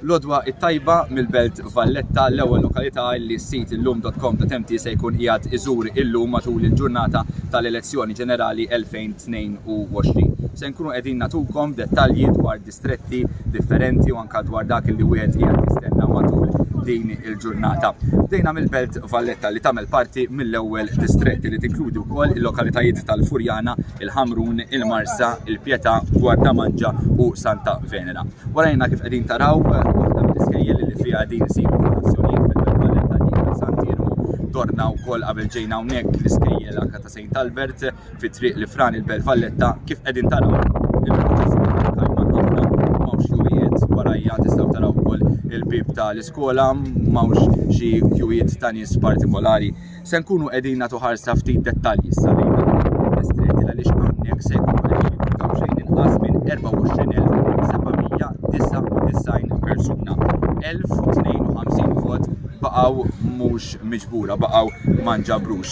Lodwa it-tajba mill-belt Valletta l-ewwel lokalità li s-sit illum.com.mt se jkun qiegħed iżur illum matul il-ġurnata tal-elezzjoni ġenerali 2022. Se nkunu qegħdin natukom dettalji dwar stretti, differenti u anke dwar dak li wieħed qiegħed jistenna matul din il-ġurnata. Bdejna mill-Belt Valletta li tagħmel parti mill-ewwel distretti li tinkludi wkoll il-lokalitajiet tal-Furjana, il-Ħamrun, il-Marsa, il-Pjetà, Gwardamanġa u Santa Venera. Warajna kif qegħdin taraw waħda mill-iskejjel li fiha din isiru l-azzjonijiet fil-Belt Valletta dik ta' Sant'Iermu. Dorna wkoll qabel ġejna hawnhekk l-iskejjel anke ta' Sejnt Albert. fit-triq li fran il-Belt Valletta kif qegħdin taraw il-proċess warajja tistgħu taraw ukoll il-bib ta' l-iskola m'hawnx xi kjujiet ta' nies partikolari. Se nkunu qegħdin nagħtu ħarsa ftit dettalji issa lejn distretti għaliex hawnhekk se jkunu qegħdin jifutaw xejn inqas minn 24,799 persuna. 1052 vot baqgħu mhux miġbura, baqgħu ma nġabrux.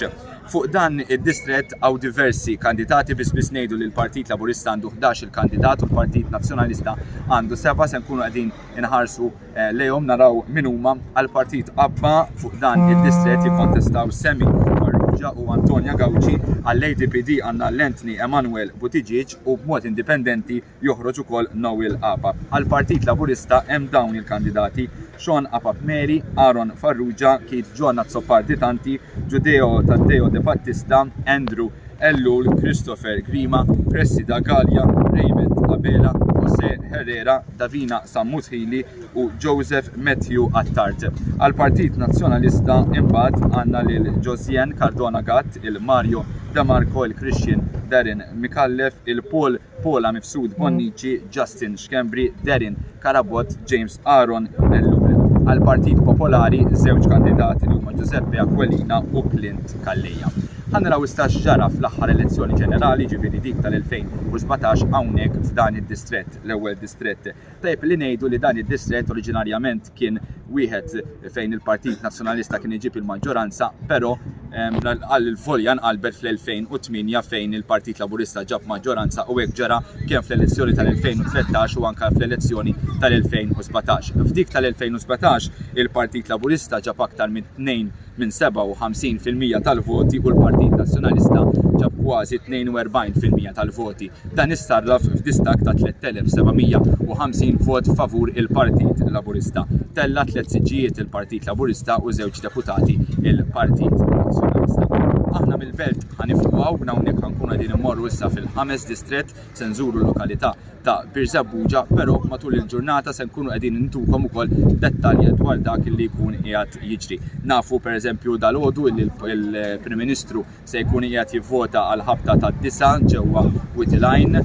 Fuq dan id-distrett hawn diversi kandidati biss biss ngħidu li l-Partit Laburista għandu ħdax il kandidat u l-Partit Nazzjonalista għandu seba' se nkunu qegħdin inħarsu lejhom naraw min huma għal Partit Abba fuq dan id-distrett jikkontestaw Sammy Farrugia u Antonia Gauci għall-ADPD għandna l-Anthony Emmanuel Buttigieg u b'mod indipendenti joħroġ ukoll Noel Apap. Għall-Partit Laburista hemm dawn il-kandidati, Sean Apap Mary, Aaron Farrugia, Keith John Azzopardi Tanti, Judeo Taddeo De Battista, Andrew Ellul, Christopher Grima, Cressida Galea, Raymond Abela, Jose Herrera, Davina Sammuthili u Joseph Matthew Attard. Għall-Partit Nazzjonalista imbagħad għandna lil Josiane Cardona Gatt, il-Mario De Marco, il-Christian Darren Micallef, il-Paul Paula Mifsud Bonnici, Justin Schembri, Darren Carabott, James Aaron Ellul. Għall-Partit Popolari, żewġ kandidati li huma Giuseppe Aquilina u Clint Calleja. Ħa naraw issa x'ġara fl-aħħar elezzjoni ġenerali, jiġifieri dik tal-2017 hawnhekk f'dan id-distrett, l-ewwel distrett. Tajjeb li ngħidu li dan id-distrett oriġinarjament, kien wieħed fejn il-Partit Nazzjonalista kien iġib il-maġġoranza, però għal volja nqalbet fl-2008 fejn il-Partit Laburista ġab maġġoranza u hekk ġara kemm fl-elezzjoni tal-2013 u anke fl-elezzjoni tal-2017. F'dik tal-2017 il-Partit Laburista ġab aktar minn 2 minn 57 fil-mija tal-voti u l-Partit Nazzjonalista ġab kważi 42 fil-mija tal-voti. Dan issarraf f'distakk ta' 3,750 vot favur il-Partit Laburista. Tella' tliet siġġijiet il-Partit Laburista u żewġ deputati il-Partit Nazzjonalista. Aħna mill-Belt ħa nifqgħu minn hawnhekk ħa nkunu qegħdin immorru issa fil-ħames distrett se nżuru l-lokalità ta' Birżebbuġa, però matul il-ġurnata se nkunu qegħdin intukom ukoll dettalji dwar dak li jkun qiegħed jiġri. Nafu pereżempju dal-għodu li l-Prim Ministru se jkun qiegħed jivvota għal ħabta ta' disa ġewwa Witilajn.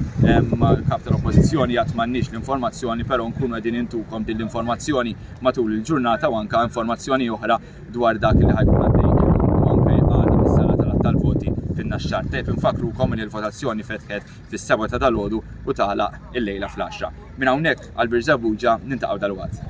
Kap tal-Oppożizzjoni għad m'għandniex l-informazzjoni, però nkunu qegħdin intukom din l-informazzjoni matul il-ġurnata u anke informazzjoni oħra dwar dak li ħa jkun għaddej illum u anke għada fis-sala tal-għadd tal-voti fin-Naxxar. Tajjeb infakkrukom li l-votazzjoni fetħet fis-sebgħa ta' dalgħodu u tagħlaq illejla fl-għaxra. Minn hawnhekk għal Birżebbuġa niltaqgħu dalwaqt.